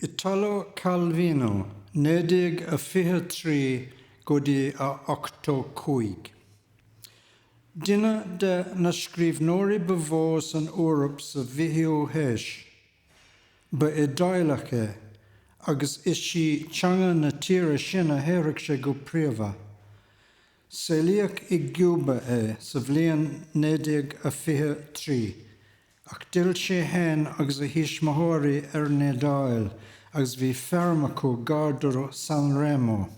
Italo Calvino 1923 go dtí 85. Duine de na scríbhneoirí ba mhó san Eoraip sa bhfichiú haois. Ba Iodáileach é agus is í teanga na tíre sin a shaothraigh sé go príomha. Saolaíodh i gCúba é sa bhliain 1923, ach d'fhill sé fhéin agus a thuismitheoirí ar an Iodáil agus bhí feirm acu gar do San Remo.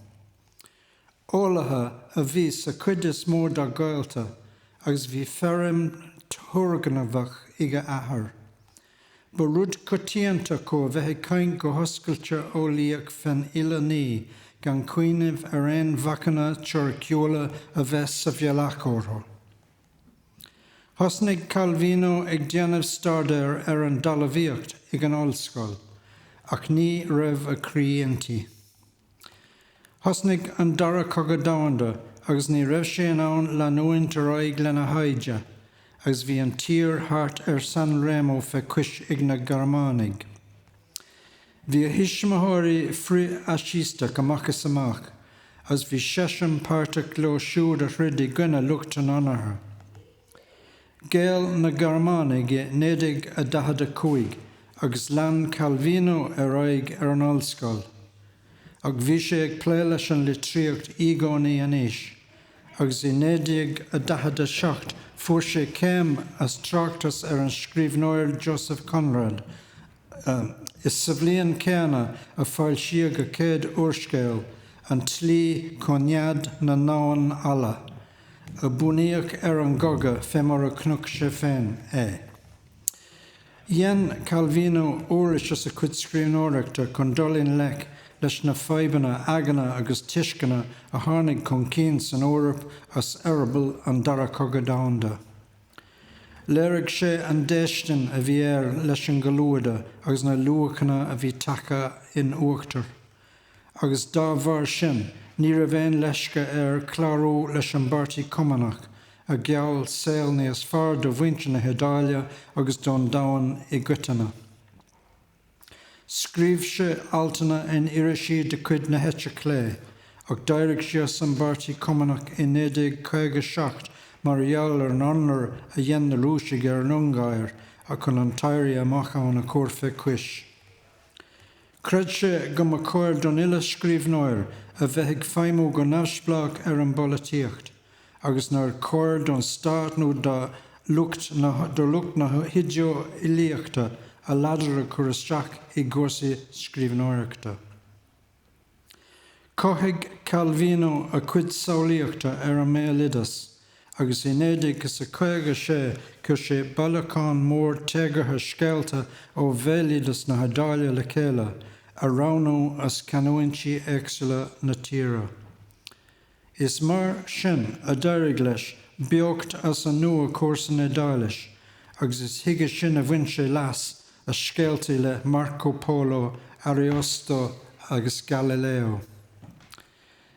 Eolaithe a bhí sa chuid is mó dá ghaolta agus bhí feirm thurgnamhach ag a athair. Ba rud coitianta acu a bheith ag caint go hoscailte eolaíoch fén uile ní, gan cuimhneamh ar aon bhacanna teoiriciúla a bheith sa bhealach orthu. Thosnaigh Calvino ag déanamh staidéir ar an dtalamhaíocht ag an ollscoil, ach ní raibh a chroí inti. Thosnaigh an Dara Cogadh Domhanda agus ní raibh sé in ann leanúint ar aghaidh lena thaighde agus bhí an tír thart ar San Remo fé chois ag na Gearmánaigh. Bhí a thuismitheoirí frithfhaisisteach amach is amach agus bhí seisean páirteach leo siúd a throid i gcoinne lucht an Chonartha. Ghéill na Gearmánaigh i 1945 agus lean Calvino ar aghaidh ar an ollscoil. Ach bhí sé ag plé leis an litríocht i gcónaí anois, agus i 1947 fuair sé céim as tráchtas ar an scríbhneoir Joseph Conrad. Is sa bhliain céanna a foilsíodh a chéad úrscéal, An tSlí chun Nead na nDamhan Alla. a bunaíodh ar an gcogadh fé mar a chonaic sé féin é. Dhein Calvino uirlis as a chuid scríbhneoireachta chun dul i ngleic leis na fadhbanna aigne agus tuisceana a tháinig chun cinn san Eoraip as eireaball an Dara Cogadh Domhanda. Léirigh sé an déistin a bhí air leis an gcomhluadar agus na luachanna a bhí tagtha in uachtar agus dá bharr sin ní raibh aon leisce air clárú leis an bPáirtí Cumannach a gheall saol níos fearr do mhuintir na hIodáile agus don domhan i gcoitinne. Scríobh sé altanna in irisí de chuid na heite clé, ach d'éirigh sé as an bPáirtí Cumannach i 1957 mar gheall ar an ionradh a dhein na Rúisigh ar an Ungáir chun an t-éirí amach ann a chur fé chois. Chreid sé go mba chóir don uile scríbhneoir a bheith ag feidhmiú go neamhspleách ar an bpolaitíocht agus nár chóir don Stát nó do lucht na hidé-eolaíochta a ladar a chur isteach i gcúrsaí scríbhneoireachta. Chothaigh Calvino a chuid samhlaíochta ar an mbéaloideas agus i 1956 chuir sé bailiúchán mór téagartha scéalta ó bhéaloideas na hIodáile le chéile, a roghnódh as canúintí éagsúla na tíre. Is mar sin a d'éirigh leis beocht as an nua a chur san Iodáilis agus is chuige sin a bhain sé leas as scéaltaí le Marco Polo, Ariosto agus Galileo.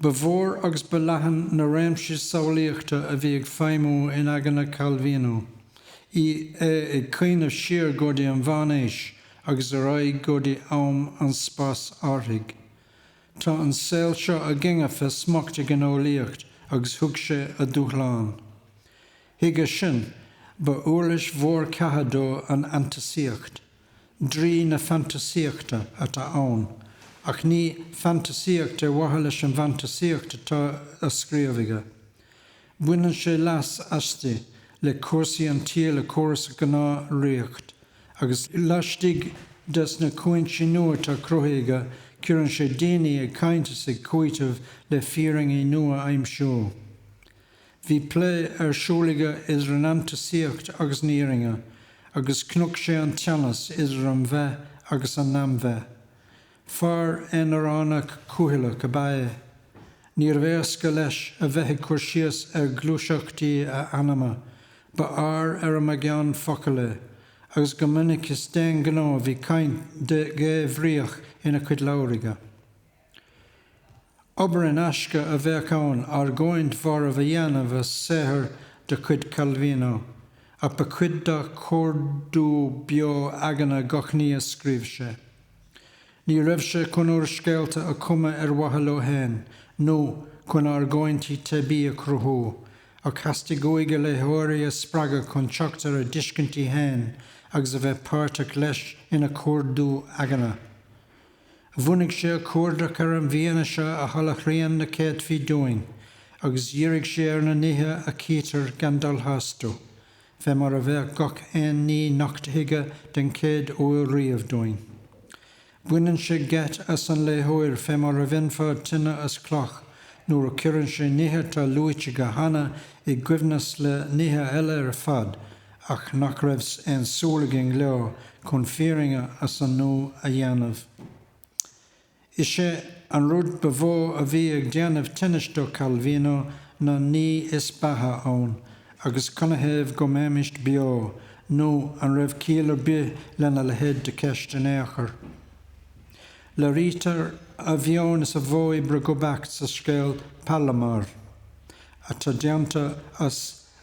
Ba mhór agus ba leathan na réimsí samhlaíochta a bhí ag feidhmiú in aigne Calvino, í ag cuimhneamh siar go dtí an Mheánaois agus ar aghaidh go dtí am an spásárthaigh. Tá an saol seo againne fé smacht ag an eolaíocht agus thug sé a dhúshlán. Chuige sin, ba uirlis mhór catha dó an fhantasaíocht. Draoi na fantasaíochta atá ann, ach ní fantasaíocht ar mhaithe leis an bhfantasaíocht atá á scríobh aige. Baineann sé leas aisti le cúrsaí an tsaoil a chur as a ngnáthriocht, agus laistigh des na cúinsí nua atá cruthaithe aige, cuireann sé daoine ag caint is ag cúiteamh le fírinní nua a aimsiú. Bhí plé ar siúl aige idir an fhantasaíocht agus an fhírinne, agus nocht sé an teannas idir an bheith agus an neamhbheith. Fear aonaránach cúthaileach ab ea é. Níorbh éasca leis a bheith ag cur síos ar ghluaiseachtaí a anama, ba fhear ar an mbeagán focal é, agus go minic is d'aon ghnó a bhí caint dhébhríoch ina chuid leabhar aige. Obair in aisce a bheadh ann argóint mharbh a dhéanamh as saothar de chuid Calvino, ach ba chuid dá chuardú beo eagna gach ní a scríobh sé. Ní raibh sé chun úrscéalta a chumadh ar mhaithe leo féin, nó chun argóintí teibí a chruthú, ach theastaigh uaidh a léitheoirí a spreagadh chun teacht ar a dtuiscintí féin agus a bheith páirteach leis ina chuardú eagna. Bhunaigh sé a chuardach ar an bhfianaise a sholáthraíonn na céadfaí dúinn, agus dhírigh sé ar na nithe a chítear gan dul tharstu, fé mar a bheadh gach aon ní nochtaithe den chéad uair riamh dúinn. Baineann sé geit as an léitheoir fé mar a bhainfeá tine as cloch nuair a chuireann sé nithe atá luaite aige cheana i gcoibhneas le nithe eile ar fad, ach nach raibh aon súil againn leo chun fírinne as an nua a dhéanamh. Is é an rud ba mhó a bhí ag déanamh tinnis do Calvino ná an ní is beatha ann agus canathaobh go mbeimíst beo, nú an raibh ciall ar bith lena leithéid de cheist in ao' chor. Léirítear a mheon is a mhodh oibre go beacht sa scéal Palomar, atá déanta as.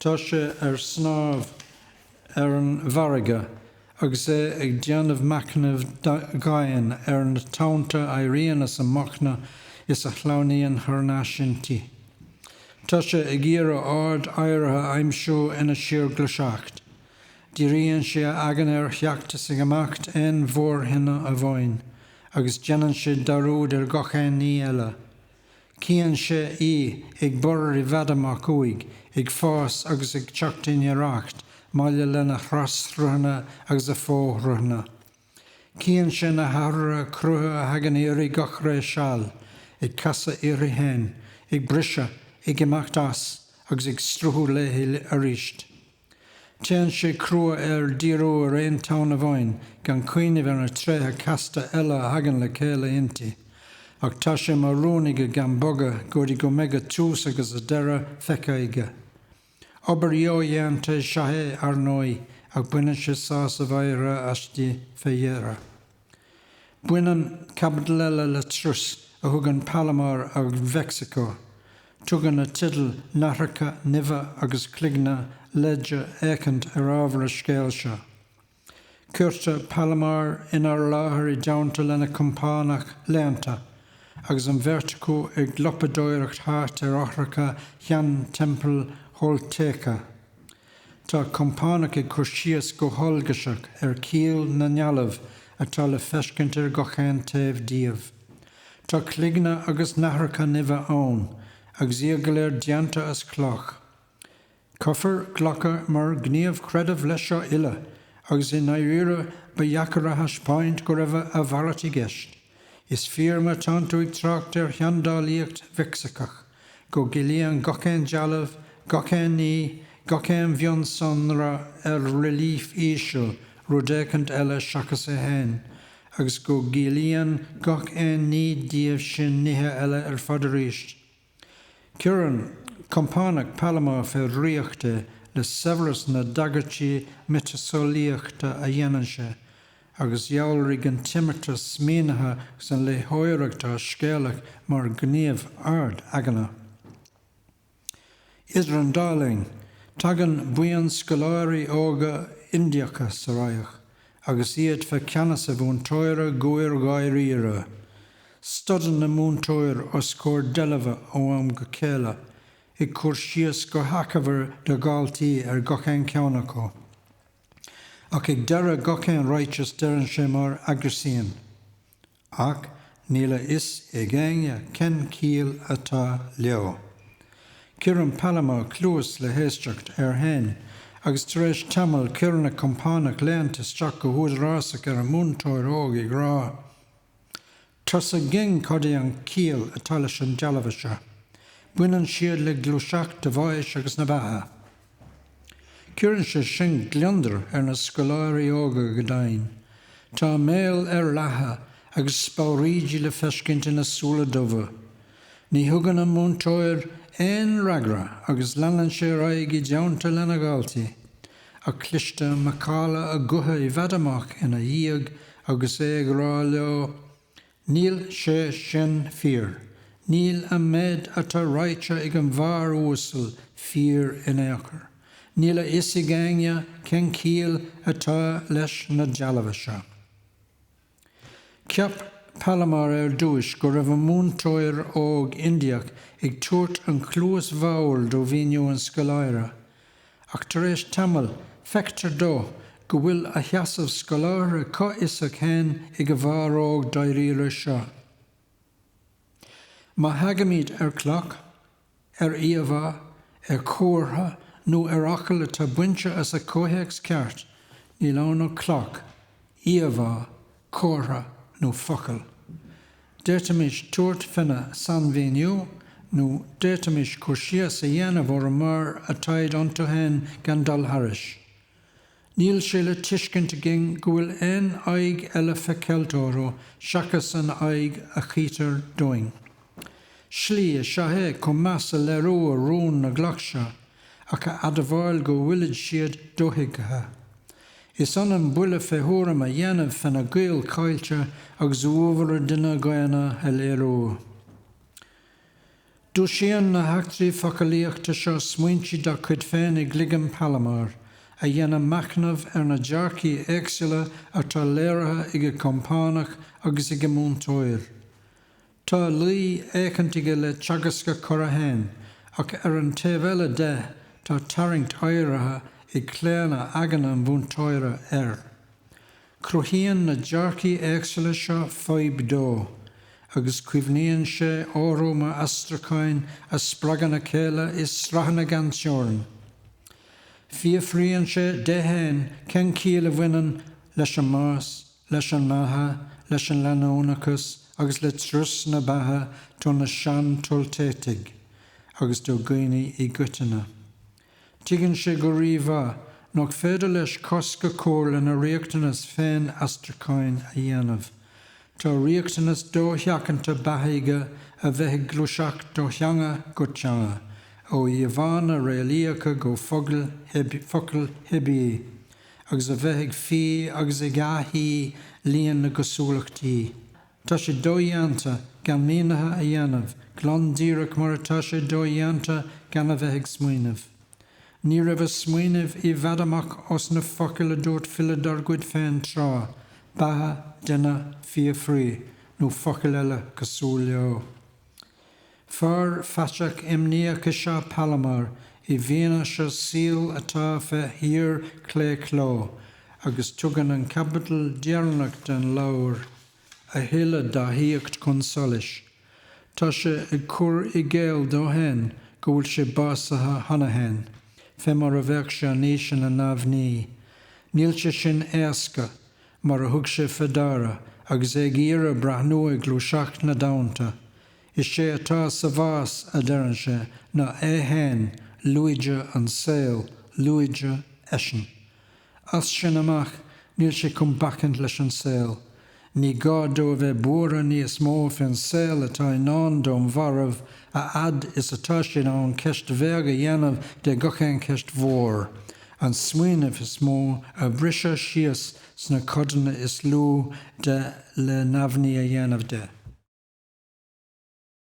Tá sé ar snámh ar an bhfarraige agus é ag déanamh machnaimh dhoimhin ar na tonnta a éiríonn as an mbóchna is a shleamhnaíonn thar n-ais inti. Tá sé ag iarraidh ord áirithe a aimsiú ina síorghluaiseacht. Díríonn sé a aigne ar theacht is ar imeacht aon mhórthoinne amháin agus déanann sé dearúd ar gach aon ní eile. Cíonn sé í ag borradh i bhfad amach uaidh, ag fás agus ag teacht i ngiorracht, maille lena thras-sruthanna agus a fó-shruthanna. Cíonn sé na hathruithe crutha a thagann uirthi gach ré seal, ag casadh uirthi féin, ag briseadh, ag imeacht as, agus ag sruthú léithi aríst. Téann sé crua air díriú ar aon tonn amháin gan cuimhneamh ar na tréithe casta eile a thagann le céile inti. Ach tá sé mar rún aige gan bogadh go dtí go mbeidh a tús agus a deireadh feicthe aige. Obair dhodhéanta is ea é, ar ndóigh, ach baineann sé sásamh áirithe aisti fé dheireadh. Baineann caibidil eile le turas a thugann Palomar ar Mheicsiceo. Tugann an teideal Nathracha Nimhe agus Cloigne leide éicint ar ábhar an scéil seo. Cuirtear Palomar inár láthair i dteannta lena compánach léannta, agus an bheirt acu ag lapadóireacht thart ar fhothracha shean-teampall Tholteca. Tá compánach ag cur síos go heolgaiseach ar chiall na ndealbh atá le feiscint ar gachaon taobh díobh. Tá cloigne agus nathracha nimhe ann, agus iad go léir déanta as cloch. Caithfear glacadh mar ghníomh creidimh leis seo uile, agus i ndáiríre ba dheacair a thaispeáint go raibh a mhalairt i gceist. Is fíor má tánn tú ag trácht ar sheandálaíocht Mheicsiceach. go gciallaíonn gach aon dealbh, gach aon ní, gach aon mhionsonra ar rilíf íseal rud éicint eile seachas é féin, agus go gciallaíonn gach aon ní díobh sin nithe eile ar fad arís. Cuireann compánach Palomar fé dhraíocht é le saibhreas na dtagairtí miotaseolaíochta a dhéanann sé, agus dhealraigh an t-imeartas mínithe agus an léitheoireacht fháthscéalach mar ghníomh ard-aigne. Idir an dá linn, tagann buíon scoláirí óga Indiacha sa radharc agus iad fé cheannas a mhúinteora goir-dháiríre. Stadann an múinteoir os comhair deilbhe ó am go chéile, ag cur síos go hachomair dá dhaltaí ar gach aon cheann acu. Ach ag deireadh gach aon ráiteas deireann sé mar aguisín. Ach níl a fhios ag éinne cén chiall atá leo. Cuireann Palomar cluas le héisteacht air fhéin agus tar éis tamaill cuireann a chompánach léannta isteach go húdarásach ar an múinteoir óg ag rá Tá a fhios againn cad é an chiall atá leis na dealbha seo. Baineann siad le gluaiseacht an bháis agus na beatha. Cuireann sé sin gliondar ar na scoláirí óga go deimhin. Tá a mbéal ar leathadh agus speabhraoidí le feiscint ina súile dubha. Ní thugann an múinteoir aon fhreagra agus leanann sé ar aghaidh i dteannta lena dhaltaí. ach cloistear macalla a ghutha i bhfad amach ina dhiaidh agus é ag rá leo Níl sé sin fíor, níl an méid atá ráidhte ag an bhfear uasal fíor in aon chor, níl a fhios ag éinne cén chiall atá leis na dealbha seo. Cheap Palomar ar dtúis go raibh an múinteoir óg Indiach ag tabhairt an chluas bhodhar do mhíniú an scoláire. Ach tar éis tamaill, feictear dó go bhfuil a sheasamh scolártha comhfhiosach fhéin ag an bhfear óg dáiríre seo. Má thagaimíd ar chloch, ar íomhá, ar chomhartha nó ar fhocal atá bainte as a chomhthéacs ceart, níl ann ach cloch, íomhá, comhartha nó focal. D'fhéadfaimis tabhairt féna sainmhíniú nó d'fhéadfaimis cur síos a dhéanamh orthu mar atáid iontu fhéin gan dul thairis. Níl sé le tuiscint againn go bhfuil aon aghaidh eile fé cheilt orthu seachas an aghaidh a chítear dúinn. Slí is ea é chun meas a léiriú ar rún na gcloch seo, ach a admháil go bhfuilid siad dothuigthe. Is ionann buille fé thuairim a dhéanamh féna gciall chaillte agus uabhar an duine dhaonna a léiriú. Dúisíonn na heachtraí focalaíochta seo smaointe dá chuid féin i gcloigeann Palomar, a dhéanann machnamh ar na dearcthaí éagsúla atá léirithe ag a chompánach agus ag an múinteoir. Tá luí éicint aige le teagasc a chara fhéin, ach ar an taobh eile de, tá tarraingt áirithe ag claonadh aigne an mhúinteora air. Cruthaíonn na dearcaí éagsúla seo fadhb dó, agus cuimhníonn sé orthu mar aistriúcháin a spreagann a chéile i sraitheanna gan teorainn. Fiafraíonn sé de fhéin cén chiall a bhaineann leis an mbás, leis an mbeatha, leis an leanúnachas agus le turas na beatha do na Sean-Toltétaigh agus do dhaoine i gcoitinne. Tuigeann sé go rí-mhaith nach féidir leis cosc a chur lena riachtanas féin aistriúcháin a dhéanamh. Tá riachtanas dosheachanta beatha aige a bheith ag gluaiseacht ó theanga go teanga, ó íomhánna réalaíocha go focail theibí, agus a bheith ag fí agus ag athfhí líon na gcosúlachtaí. Tá sé dodhéanta gan mínithe a dhéanamh, glan díreach mar atá sé dodhéanta gan a bheith ag smaoineamh. Ní raibh a smaoineamh i bhfad amach ós na focail a dúirt file dár gcuid féin tráth, beatha, duine, fiafraí, nó focail eile cosúil leo. Fear faiteach imníoch is ea Palomar i bhfianaise saoil atá fé shíorchlaochló agus tugann an chaibidil dheireanach den leabhar a thuilleadh dá shaíocht chun solais. Tá sé ag cur i gcéill dó féin go bhfuil sé básaithe cheana féin, fé mar a bheadh sé anois ina neamhní. Níl sé sin éasca, mar a thug sé fé dara, agus é ag iarraidh breathnú ar ghluaiseacht na dtonnta. Is é atá sa bhás, a deireann sé, ná é féin, lúide an saol, lúide eisean. As sin amach níl sé chun bacaint leis an saol. Ní gá dó a bheith buartha níos mó fén saol atá i ndán don mharbh, a fhad is atá sé ann ceist bheag a dhéanamh de gach aon cheist mhór. An smaoineamh is mó a bhriseadh síos sna codanna is lú de le neamhní a dhéanamh de.